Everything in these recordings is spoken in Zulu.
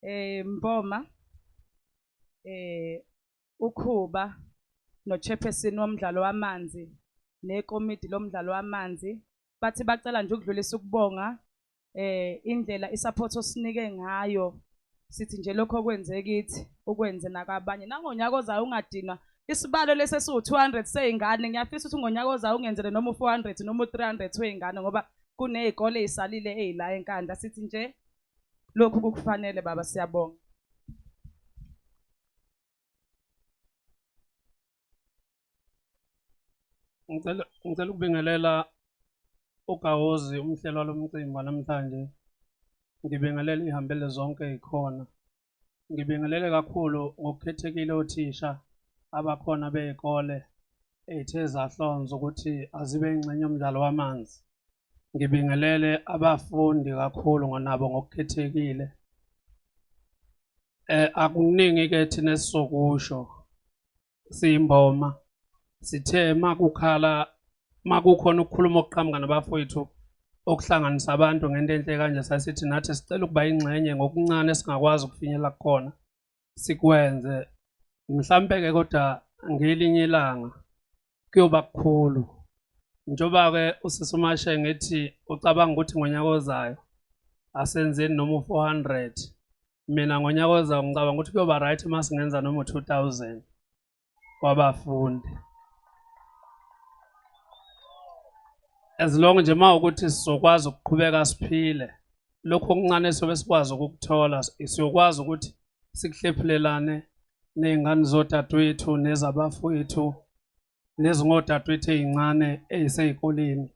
Eh Mboma eh uKhuba nochairperson womdlalo wamanzi nekomidi lomdlalo wamanzi bathi bacela nje ukudlulisa ukubonga eh indlela isupport osinike ngayo sithi nje lokho okwenze kithi ukwenze nakabanye nangonyaka ozayo ungadinwa isibalo lesi esiwu-200 sey'ngane ngiyafisa ukuthi ngonyaka ozayo ungenzele noma u-400 noma u-300 wey'ngane ngoba kuney'kole ey'salile ey'la enkandla sithi nje lokhu kukufanele baba siyabonga ngicela ngicela ukubingelela ugawozi umhlelo walomcimbi namhlanje ngibingelela ihambele zonke ikhona Ngibingelele kakhulu ngokukhethekile othisha abakhona bey'kole ey'the zahlonza ukuthi azibe ingxenye yomdlalo wamanzi. Ngibingelele abafundi kakhulu ngonabo ngokukhethekile. Akuningi-ke thina esizokusho siyimboma sithe makukhala makukhona ukukhuluma okuqhamuka nabafowethu okuhlanganisa abantu ngento enhle kanje sasithi nathi sicela ukuba ingxenye ngokuncane esingakwazi ukufinyelela kukhona sikwenze mhlampe-ke kodwa ngelinye ilanga kuyoba kukhulu njengoba-ke usisi umashe ngithi ucabanga ukuthi ngonyaka ozayo asenzeni noma u-four hundred mina ngonyaka ozayo ngicabanga ukuthi kuyoba right uma singenza noma u-two thousand wabafundi as long nje uma ukuthi sizokwazi ukuqhubeka siphile lokhu okuncane sobe sikwazi ukukuthola siyokwazi ukuthi sikuhlephulelane ney'ngane zodadewethu nezabafowethu nezingodadwethu ezincane ezisezikoleni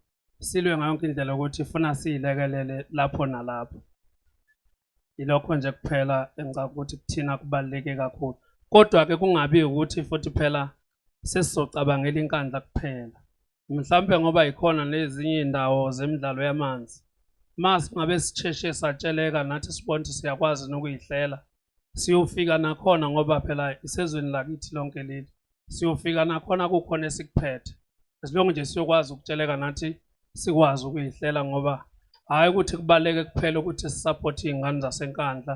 silwe ngayo yonke indlela ukuthi funa siyilekelele lapho nalapho ilokho nje kuphela engicabanga ukuthi kuthina kubaluleke kakhulu kodwa ke kungabi ukuthi futhi phela sesizocabangela inkandla kuphela mhlawumbe ngoba yikhona nezinye indawo zemidlalo yamanzi uma singabe sisheshe satsheleka nathi sibona ukuthi siyakwazi nokuyihlela siyofika nakhona ngoba phela isezweni lakithi lonke leli siyofika nakhona kukhona esikuphethe as long nje siyokwazi ukutsheleka nathi sikwazi ukuyihlela ngoba hhayi ukuthi kubaleke kuphela ukuthi sisapothe iy'ngane zasenkandla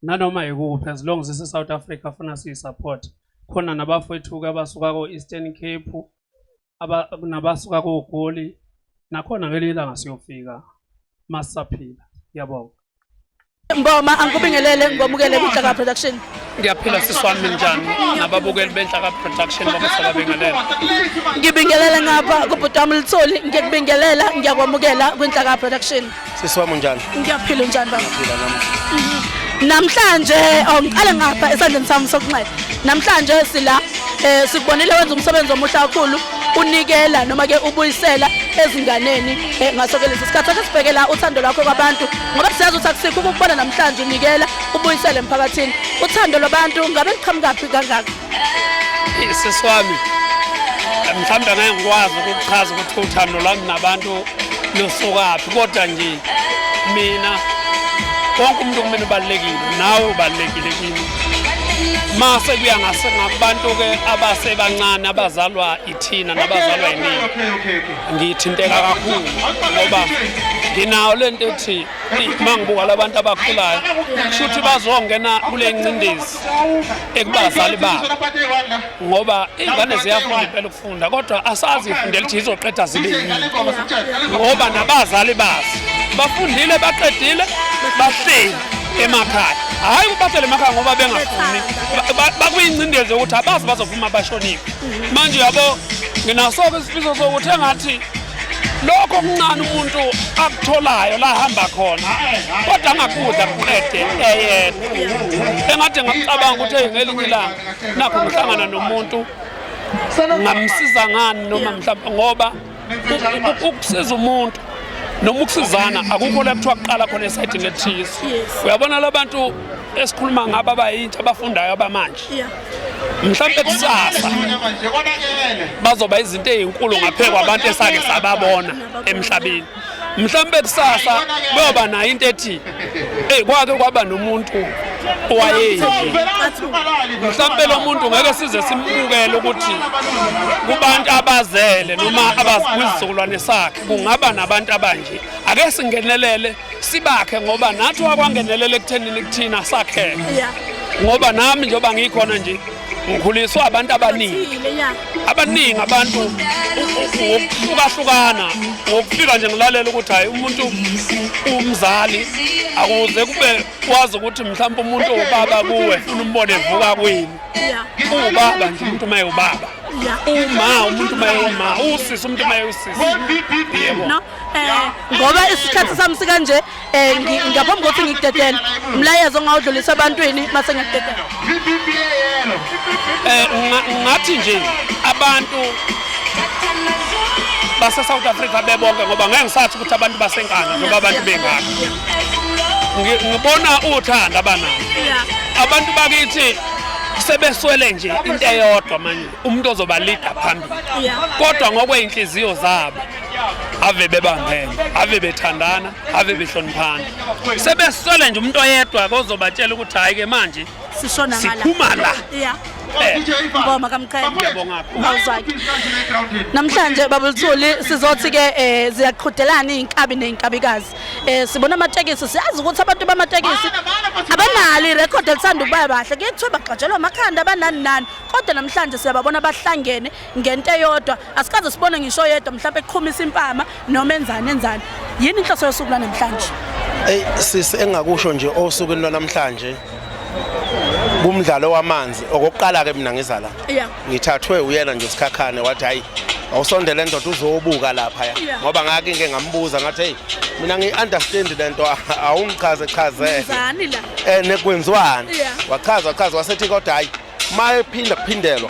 nanoma yikuphi as long zise-south africa funa siyi-support khona nabafowethu-ke abasuka ko-eastern cape nabasuka kogoli nakhona ngelinye ilanga siyofika masisaphila ngiyabonga Ngoma angikubingelele ngomukele kuJaka Production. Ngiyaphila sisi wami njani nababukeli beNhlaka Production bamusala bengelela. Ngibingelele ngapha kubhuti wami Litholi ngikubingelela ngiyakwamukela kwiNhlaka Production. Sisi wami unjani? Ngiyaphila unjani baba? Ngiyaphila nami. Namhlanje oh, ngiqale ngapha esandleni sami sokunxele. Namhlanje sila eh sikubonile wenza umsebenzi omuhle kakhulu unikela noma ke ubuyisela ezinganeni eh, ngaso ke lesi sikhathi ake sibheke la uthando lwakho kwabantu ngoba siyazi ukuthi akusikho ukubona namhlanje unikela ubuyisele emphakathini uthando lwabantu ngabe liqhamukaphi kangaka Sisi wami mhlawumbe angeke ngikwazi ukuchaza ukuthi uthando lwami nabantu lusukaphi kodwa nje mina wonke umuntu kumina ubalulekile nawe ubalulekile kimi ma sekuya ngabantu-ke abasebancane abazalwa ithina nabazalwa yiningi ngithinteka kakhulu ngoba nginawo le nto ethi ma ngibuka labantu abakhulayo kusho ukuthi bazongena kule ncindezi ekubazali babo ngoba ingane ziyafunda impela ukufunda kodwa asazi ifundela ukuthi izoqeda zibe yini ngoba nabazali bazo bafundile baqedile bahleli emakhaya hhayi ukubathela emakhaya ngoba bengafuni bakuyingcindezi yokuthi abazi bazophuma bashonile manje uyabo nginasoke isifiso sokuthi engathi lokho kuncane umuntu akutholayo la hamba khona kodwa angakudla kuqede eyedwa engathi ngacabanga ukuthi ngelinye ilanga nakho ngihlangana nomuntu ngamsiza ngani noma mhlawumbe ngoba ukusiza umuntu noma ukusizana akukho la kuthiwa kuqala khona esayidini elithize uyabona labantu esikhuluma ngabo abayintsha abafundayo abamanje mhlawumbe kusasa bazoba izinto ezinkulu ngaphezulu abantu esake sababona emhlabeni mhlawumbe kusasa beyoba nayo into ethi eyi kwake kwaba nomuntu owayeyi mhlawumbe lo muntu ngeke size simbukele ukuthi kubantu abazele noma kwizizukulwane sakhe kungaba nabantu abanje ake singenelele sibakhe ngoba nathi wakwangenelela ekuthenini kuthina sakheke ngoba nami njengoba ngikhona nje ngikhuliswe abantu abaningi abaningi abantu ngokuhlukahlukana ngokufika nje ngilalela ukuthi hhayi umuntu umzali akuze kube kwazi ukuthi mhlawumbe umuntu owubaba kuwe funa umbone evuka kwini uwubaba nje umuntu uma ewubaba uma umuntu uma ewuma usisi umuntu uma ewusisi yebo Eh, ngoba isikhathi sami sikanje eh, ngaphambi kokuthi ngikudedele umlayezo ongawudlulisa ebantwini mase ngiyakudedela eh, ngathi nje abantu base-south africa bebonke ngoba ngeke ngisathi ukuthi abantu basenkana noma abantu bengaka ngibona uthanda abanalo abantu bakithi sebeswele nje into eyodwa manje umuntu ozoba leader phambili kodwa ngokwey'nhliziyo zabo ave bebambene ave bethandana ave behloniphana sebeswele nje umuntu oyedwa kozobatshela ukuthi hayi ke manje sishona ngala siphuma la yeah eh. ngoma kamqhele awuzaki namhlanje babuluthuli sizothi ke eh, ziyaqhudelana izinkabi nezinkabikazi eh, sibona amatekisi siyazi ukuthi abantu bamatekisi abanalo irecord elithanda ukuba bahle kuyekuthiwa bagxatshelwa amakhanda abanani nani kodwa namhlanje siyababona bahlangene ngento eyodwa asikaze sibone ngisho oyedwa mhlawumbe eqhumisa impama noma enzani enzani yini inhloso yosuku lwanamhlanje eyi sisi engingakusho nje osukwini lwanamhlanje kumdlalo wamanzi okokuqala ke mina ngiza la ngithathwe uyena nje sikhakhane wathi hayi awusondele ndoda uzobuka lapha ya ngoba ngake ngeke ngambuza ngathi hey mina ngiunderstand lento awungichaze chaze eh nekwenziwani wachaza wachaza wasethi kodwa hayi uma ephinda kuphindelwa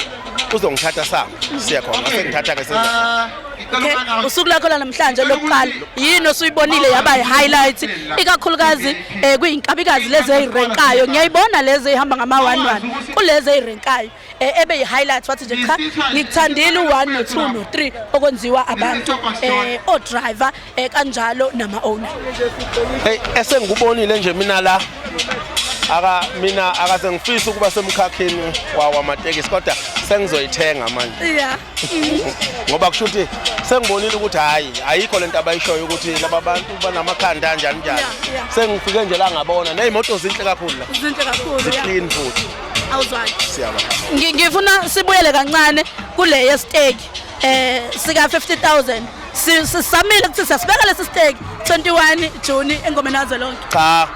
uzongithatha sami siya khona sengithatha ke senza Okay, usuku lakho lanamhlanje lokuqala yini osuyibonile yaba i-highlight ikakhulukazi eh kuyinkabikazi lezi ezirenkayo ngiyayibona lezi ehamba ngama 11 kulezi ezirenkayo eh, ebe yi-highlight wathi nje cha ngikuthandile u1 no2 no3 okwenziwa abantu eh o driver eh kanjalo nama owner hey esengikubonile nje mina la aka mina akase ngifisa ukuba semkhakheni wawa amatekisi kodwa sengizoyithenga manje yeah ngoba kusho ukuthi sengibonile ukuthi hayi ayikho lento abayishoyo ukuthi laba bantu banamakhanda kanjani njani sengifike nje la ngabona nezimoto zinhle kakhulu la zinhle kakhulu ziclean futhi awuzwaki siyabona ngifuna sibuyele kancane kule yesteki eh sika 50000 sisamile ukuthi siyasibeka lesi stake 21 June engomeni yazo lonke cha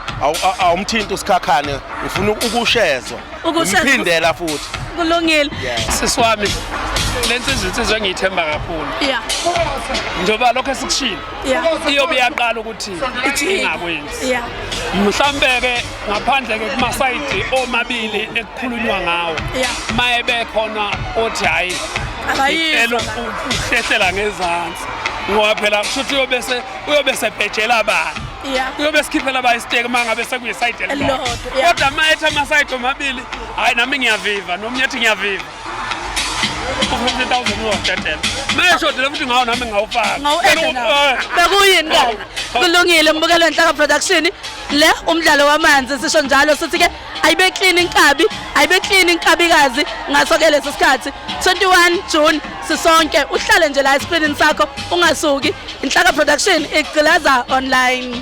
awumthinta usikhakhane ufuna ukushezwa umphindela futhi kulungile sisi wami lensizwe insizwe engiyithemba kakhulu yeah njengoba lokho esikushilo iyobe iyaqala ukuthi ingakwenzi mhlawumbe-ke ngaphandle-ke kumasayidi omabili ekukhulunywa ngawo ma ebekhona othi hhayi uhlehlela ngezansi ngoba phela kusho ukuthi uyobese uyobe sebhejela abantu uyobe sikhiphela ba isiteki uma ngabe sekuyisayidi elilodwa kodwa ma ethi amasayidi omabili hhayi nami ngiyaviva nomunye ethi ngiyaviva bekuyini kabi kulungile mbukelo nhlaka production le umdlalo wamanzi sisho njalo sithi ke ayibe clean inkabi ayibe clean inkabikazi ngaso ke lesi sikhathi 21 June sisonke uhlale nje la escreenini sakho ungasuki inhlaka production igcilaza online